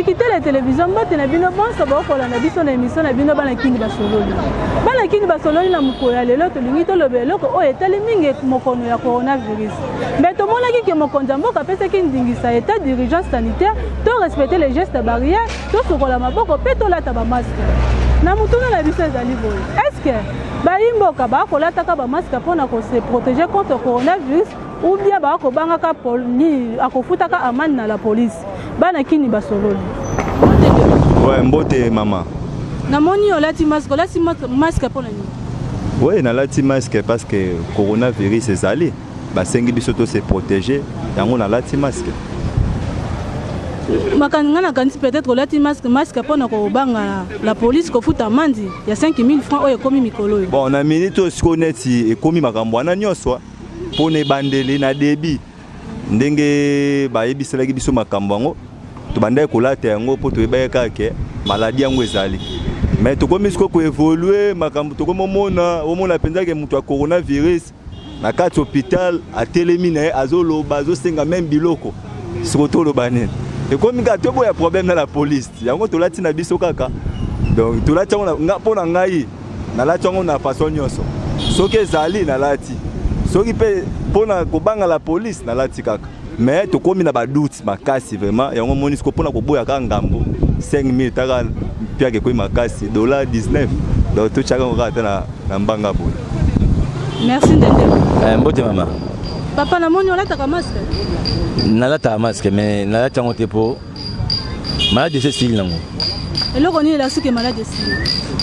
kitele televizio mbote na bino bonso bokola na biso na emisio na bino bana kini basololi bana kini basololi na mokolo ya lelo tolingi toloba eloko oyo etali mingi mokono ya coronavirus mbe tomonaki ke mokonzi ya mboka apesaki ndingisa etat d'urgence sanitaire to respecte les gestes barrière tosokola maboko mpe tolata bamaske na motuna na biso ezali boye eske bayimboka bakolataka bamaske mpo na kose protege contre coronavirus ou bien bakobangaka nini akofutaka amani na la polise bana kini basololi ouais, mbote mama namoni olati maske olati maske mpo na nini oui nalati maske parce que coronavirus ezali Basengi biso to se protéger, yango nalati masque. makanisi ngai nakanisi peut-être olati masque masque mpo na kobanga la police kofuta amandi ya 5000 francs oyo ekomi mikolo oyo Bon, na minute oyo sikoyo neti ekomi makambo wana nyonso mpo na ebandeli na debi ndenge bayebiselaki biso makambo yango tobandaki kolata yango mpo toyebaki kaka ke maladi yango ezali me tokomi sikoyo koevolue makambo tokomi omona omona mpenza ke moto ya coronavirus na kati hopital atelemi na ye azoloba azosenga meme biloko soko toloba nini ekomi kaka toboya problème na la police yango tolati na biso kaka donc tolati yango mpo na ngai nalati yango na façon nyonso soki ezali nalati soki mpe mpo na kobanga la police nalati kaka mais tokomi na badoute makasi vraiment yango moni siko mpona koboya kaka ngambo 5000 taka mpiaka ekomi makasi dollar 19 donc totyaka yango kaka ata na mbanga boye merci ndende eh, mbote mama papa namoni olataka masque nalataka masque mais nalati yango te mpo maladi ese esili nango eloko nini elasuki maladi esili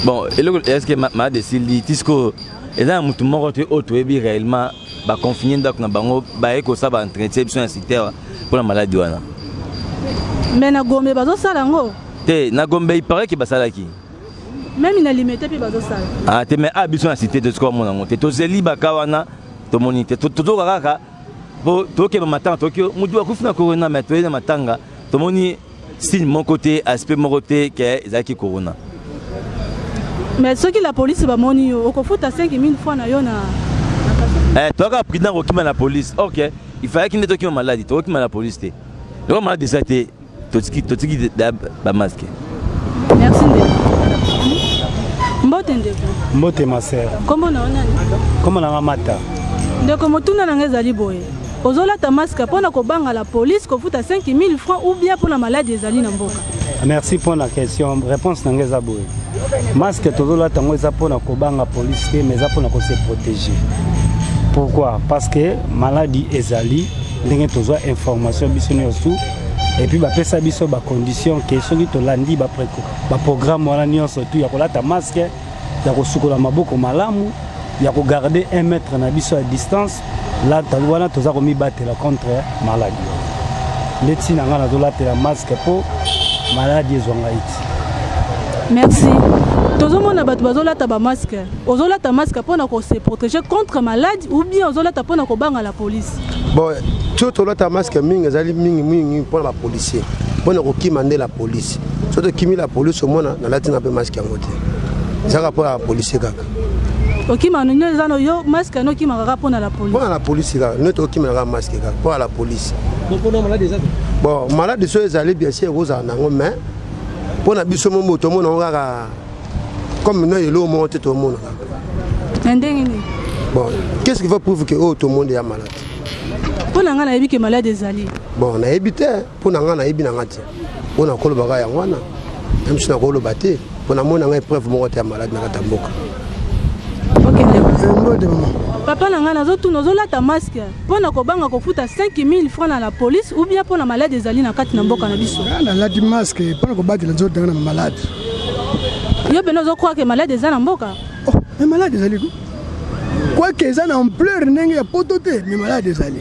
bon eloko eske maladi esili ti sikoyo eza na motu moko te oyo toyebi réellement ba confiner ndako na bango baye kosala ba entretien biso na site awa mpo na maladi wana me na gombe bazosala yango te na gombe ipare ke basalaki meme na limete mpe bazosala ah, te me a ah, biso na site te soki bamona yango te tozeli baka wana tomoni te tozoka kaka mpo tokeba matanga toki motu akufi na corona me toyei na matanga tomoni signe moko te aspect moko te ke ezalaki corona mais soki la police bamoni yo okofuta 5000 fois na yo na eh, toyaka prudent kokima na police ok il fallaki nde tokima maladi tokokima na police te loko maladi eza te totiki bamaske merci mbote ndeko mbote ma sœur kombo na yo nani kombo na nga mata ndeko motuna na nga ezali boye Ozolata masque pona kobanga la police kofuta 5000 francs ou bien pona malade ezali na mboka. Merci pour la question. Réponse na ngeza boye. Masque tozolata ngo eza pona kobanga police te mais eza pona ko se protéger. Pourquoi? Parce que maladie ezali ndenge tozwa information biso nyonso et puis bapesa biso ba conditions que soki tolandi ba programme wana nyonso tu ya kolata masque ya kosukola maboko malamu ya kogarde 1 mètre na biso ya distance wana toza komibatela contre maladi nde ntina ngai nazolatela maske mpo maladi ezwa ngai ti merci tozomona bato bazolata bamaske ozolata maske mpo na kose protéger contre maladi ou bien ozolata mpo na kobanga la police bon tio tolata maske mingi ezali mingi mingi mpo na bapolicier mpo na kokima nde la police so tokimi la polise omona nalati na mpe maske yango te ezaka mpo ya polise kaka okima nino eza no yo maske yango okima kaka mpo na la polise mpo na la polise kaka nete okima kaka maske kaka mpo ya la polise bon maladi so ezali bien sûr ekozala nango mais mpo na biso mo moto omona yango kaka comme no eloko moko te tomona kaka na ndenge nini bon qu'est ce qui va prouve que oyo oh, tomoni ya maladi mpo na ngai nayebi ke maladi ezali bon nayebi te mpo na ngai nayebi na ngai te oyo nakolobaka yango wana na misu nakoloba te mpo namoni na ngai epreuve moko te ya malade na kati ya mboka papa na ngai nazotuna ozolata maske mpo na kobanga kofuta 5000 franc na la police ou bien mpo na malade ezali na kati na mboka na biso ah, nalati maske mpo na kobatela nzoto na malade yo mpena ozokwaka ke malade eza na mboka oh, malade ezali kwake eza na ampleur ndenge ya poto te me malade ezali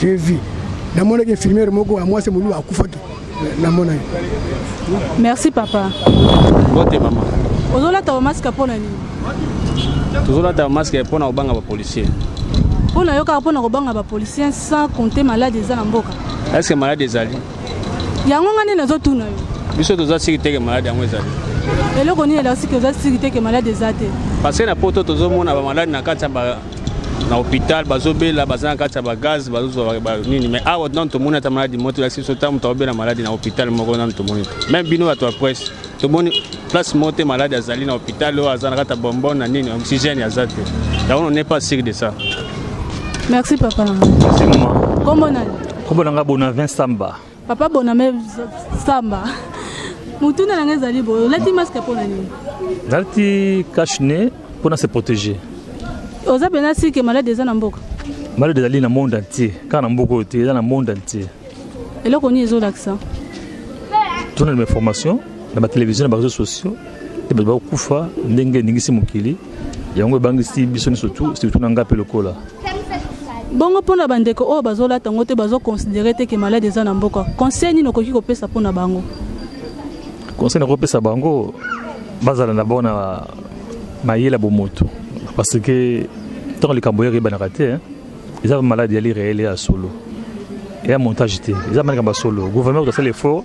J'ai vu. Namonaki infirmière moko ya mwasi moluba akufaki. Namona ye. Merci papa. Bote mama. Ozolata ba masque mpo na nini? Tozolata ba masque mpo na kobanga ba policiers. Mpo na yo kaka mpo na kobanga ba policiers sans compter malade eza na mboka. Est-ce que malade ezali? Yango nga nini nazotuna yo? Biso toza siki teke malade yango ezali. Eloko nini elakisi ke oza siki teke malade eza te? Parce que na poto tozomona ba malade na kati ya ba na hôpital bazobela baza na kati ya bagaz bazozwa nini mais awa nanu tomoni ata maladi moto elakisi biso ntango moto akobela maladi na hôpital moko nanu tomoni te meme bino bato ya presse tomoni place moko te maladi azali na hôpital oyo aza na kati ya bonbon na nini oxygène aza te yango on n'est pas sûr de ça merci papa na moi kombo nani kombo na nga bona vinsamba Papa Boname Samba, motuna na ngai ezali boye, olati masque mpo na nini? Nalati cache nez mpo na se protéger. Oza mpenza sike maladi eza na mboka? Maladi ezali na monde entier, kaka na mboka oyo te, eza na monde entier. Eloko nini ezolakisa? Tuna na information na ba television na ba réseaux sociaux te bato bakokufa ndenge eningisi mokili yango ebangisi biso nyonso tu surtout na ngai mpe lokola bongo mpo na bandeko oyo bazolata yango te bazoconsidere te ke maladi eza na mboka conseil nini okoki kopesa mpo na bango conseil nakopesa bango bazala na bango na mayele ya bomoto parce que ntango likambo yaka eyebanaka te eza maladi yali réel ya solo eya montage te eza malikambo ya solo gouvernement kutasala effort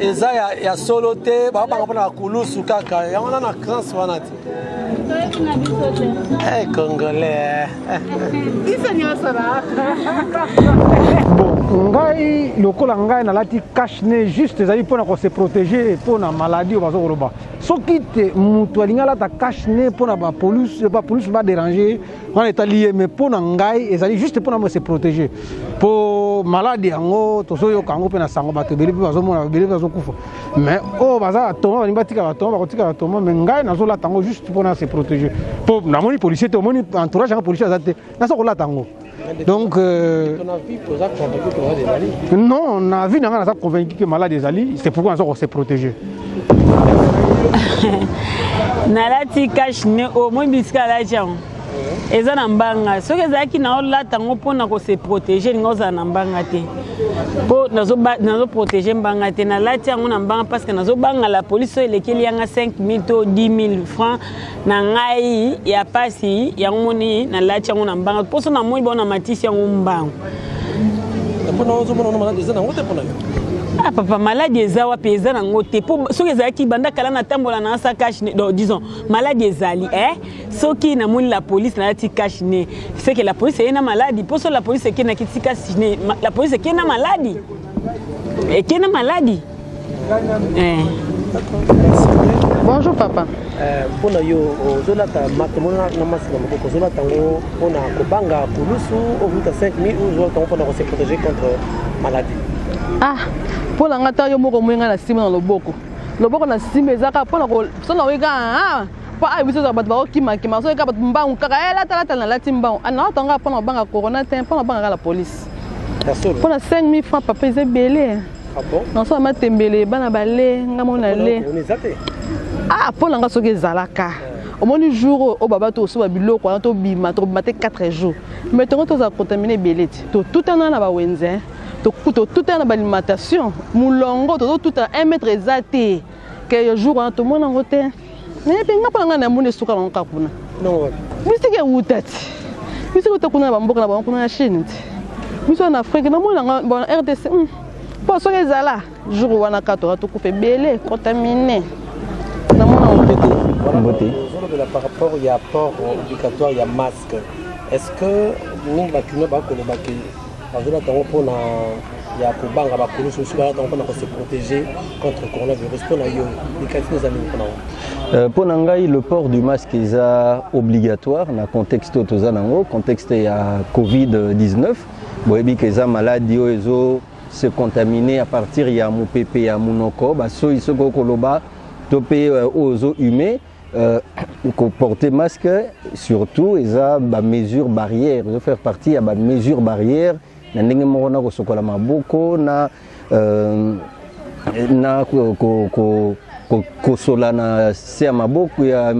eza ya, ya solo te babanga mpona bakulusu kaka yango na na crance wana te hey, eh, congolais bon ngai lokola ngai nalati cache ne juste ezali mpona kose protege mpona maladie oyo baza koloba soki te moto alingi alata cache ne mpona bapolisi baderange wana etali ye mais mpo na ngai ezali juste mpo na se protéger mpo maladi yango tozoyoka yango mpe na sango bato ebele mpe bazomona ebele mpe bazokufa mais oyo oh, baza batoma balingi batika batoma bakotika batoma mais ngai nazolata yango juste mpo na se protéger mpo namoni policier te omoni entourage yanga policier aza te naza kolata yango donc euh, non na vie na ngai naza convaincu que malade ezali c'est pourquoi naza kose protéger nalati cash ne o oh, moyi bisika alati yango eza na mbanga soki ezalaki na olata yango mpo na kose protege elingi ozala na mbanga te mpo nazoprotege mbanga te nalati yango na mbanga parce que nazobanga la police oyo elekeli yanga 5000 to 10 000 francs na ngai ya pasi yango moni nalati yango na mbanga mposo na moi baona matisi yango mbango ah papa maladi eza wapi eza nango te mpo soki ezalaki banda kala natambola na asa cash ne donc disons maladi ezali eh soki namoni la police nalati cash ne seke la police eye na maladi mpo so la police ekendaki ti cash ne la police ekenda maladi ekena eh, maladi eh. bonjour papa eh, mpo na yo ozolata makambo na masina maboko ozolata yango mpo na kobanga kulusu ovuta 5000 ozolata yango mpo na kose protege contre maladie ah mpo na ngai ta yo moko moyenga na nsima na loboko loboko na nsima eza kaka mpo na kosala oyeka mpo ayo biso ezala bato bakokimakima soki kaka bato mbangu kaka elatalata eh, nalati mbangu ah, naata nga mpo na kobanga corona te mpo na kobanga kaka la polise mpo na 5000 franc papa eza ebele ah nasola matembele bana bale nga mona le ah mpo na nga soki ezalaka omoni jour oyo oyo baba tokosoba biloko wana tobima tokobima te 4 jours mai tongo tozala contamine ebele ti totutana na bawenze totutana na balimentation molongo tozotuta 1 mètre eza te ke jour wana tomona yango te naye mpe nga mpona ngai na moni esuka nango kaka kuna misiki ewuta ti misiki ewuta kuna na bamboka na bango kuna na chine ti biso na afrike na moni nanga bona rdc hmm. mpo soki ezala jour wana kaka toka tokufa ebele contamine na mona yango mpe te mbote ozolobela par rapport ya port obligatoire ya masque est ce que mingi bakino bakoloba ke bazolata yango mpona ya kobanga bakulusu mosusu balata yango mpona ko se protéger contre coronavirus mpona yo likati eza nini mpona yango Euh, mpo na ngai le port du masque eza obligatoire na contexte oyo toza nango contexte ya covid-19 boyebi ke eza maladi oyo ezo se contamine à partir ya mopepe ya monoko basoyi soki okoloba to mpe euh, oyo ozo hume Euh, porter masque surtout eza ba mesure barrière ezo faire partie ya ba mesure barrière na ndenge moko na kosokola maboko na euh, na kosolana se ya maboko ya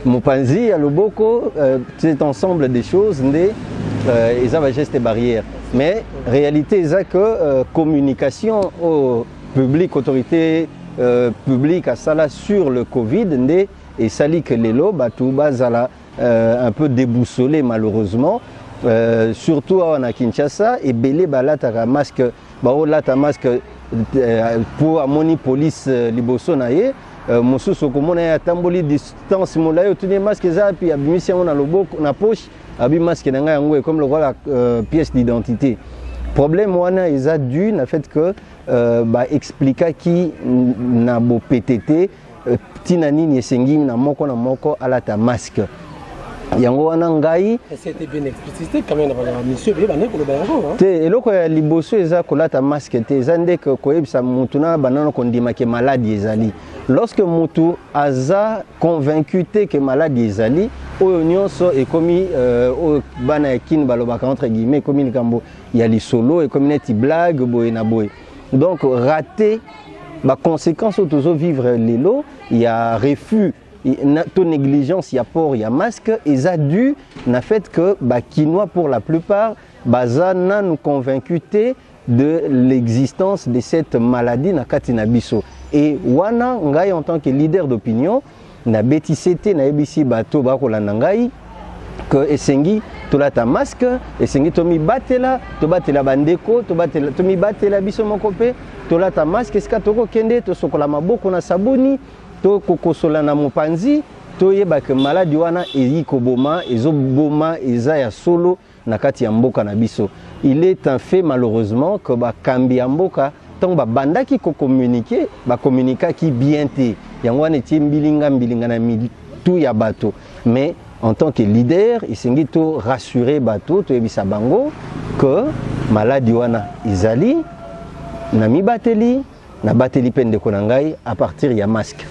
mopanzi ya loboko euh, cet ensemble des choses nde euh, eza bageste barrière mais réalité eza que euh, communication oyo oh, public autorité euh, publique asala sur le covid nde esali que lelo bato bazala euh, un peu déboussolé malheureusement euh, surtout awa na kinshasa ebele balataka masque baolata masque euh, mpo amoni police euh, liboso na ye euh, mosusu okomona ye atamboli distance molai otuni ye masque eza api abimisi yango na loboko na poche abi masque na ngai yango ekomi lokola euh, pièce d'identité problème wana eza dû na fait que euh, baexplikaki na bopete te ntina euh, nini esengi na moko na moko alata masque yango wana ngai te eloko ya liboso eza kolata masque te eza nde koyebisa motu na banano kondima ke maladi ezali lorsque mutu aza convaincu te que maladi ezali oyo nyonso ekomi euh, oyo bana ya kini balobaka entre guillemets ekomi likambo ya lisolo ekomi neti blague boye na boye donc rate baconséquence oyo tozovivre lelo ya refus to négligence ya port ya masque eza dû na fait que bakinois pour la plupart baza nanu convaincu te de l'existence de cette maladie na kati na biso et wana ngai en tant que leader d'opinion na betise te nayebisi bato bakolanda ngai que esengi tolata masque esengi tomibatela tobatela bandeko tomibatela biso moko mpe tolata masque esika tokokende tosokola maboko na sabuni tokokosola na mopanzi toyeba ke maladi wana eyi koboma ezoboma eza ya solo na kati ya mboka na biso il est un fait malheureusement que bakambi ya mboka ntango babandaki kokomunike bakomunikaki bien te yango wana etie mbilinga mbilinga na mitu ya bato mais en tant que leader esengi to rassurer bato toyebisa bango que maladi wana ezali na mibateli nabateli mpe ndeko na ngai a partir ya masque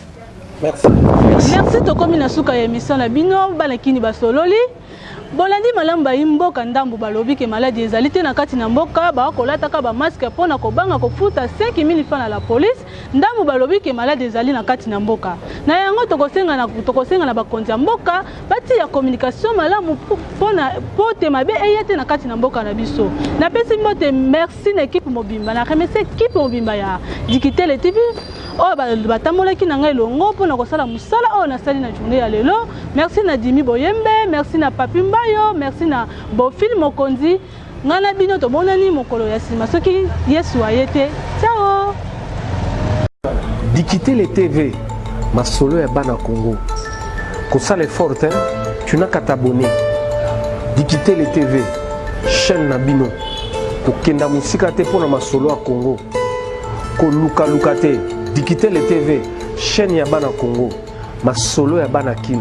merci, merci. merci tokomi na suka ya emission na bino bana kini basololi bolandi malamu bayi mboka ndambo balobi ke maladi ezali te na kati na mboka baa kolataka bamaske mpo na kobanga kofuta 5000 franc na la polise ndambo balobi ke maladi ezali na kati na mboka na yango tokosenga na, tokosenga na bakonzi ya mboka batia communication malamu pona pote mabe eya te na kati na mboka na biso napesi mbote merci na ekipe mobimba na remercie ekipe mobimba ya dikitele tv oyo batambolaki na ngai elongo mpo na kosala mosala oyo nasali na journée ya lelo merci na dimi boyembe merci na papi mbayo merci na bofil mokonzi Ngai na bino tomonani mokolo ya nsima soki Yesu aye te. Ciao! Dikitele TV, masolo ya bana Congo. Kosala effort hein? Tu n'as qu'à t'abonner. Dikitele TV, chaîne na bino. Kokenda mosika te mpo na masolo ya Congo. Kolukaluka te. Dikitele TV, chaîne ya bana Congo. Masolo ya bana Kin.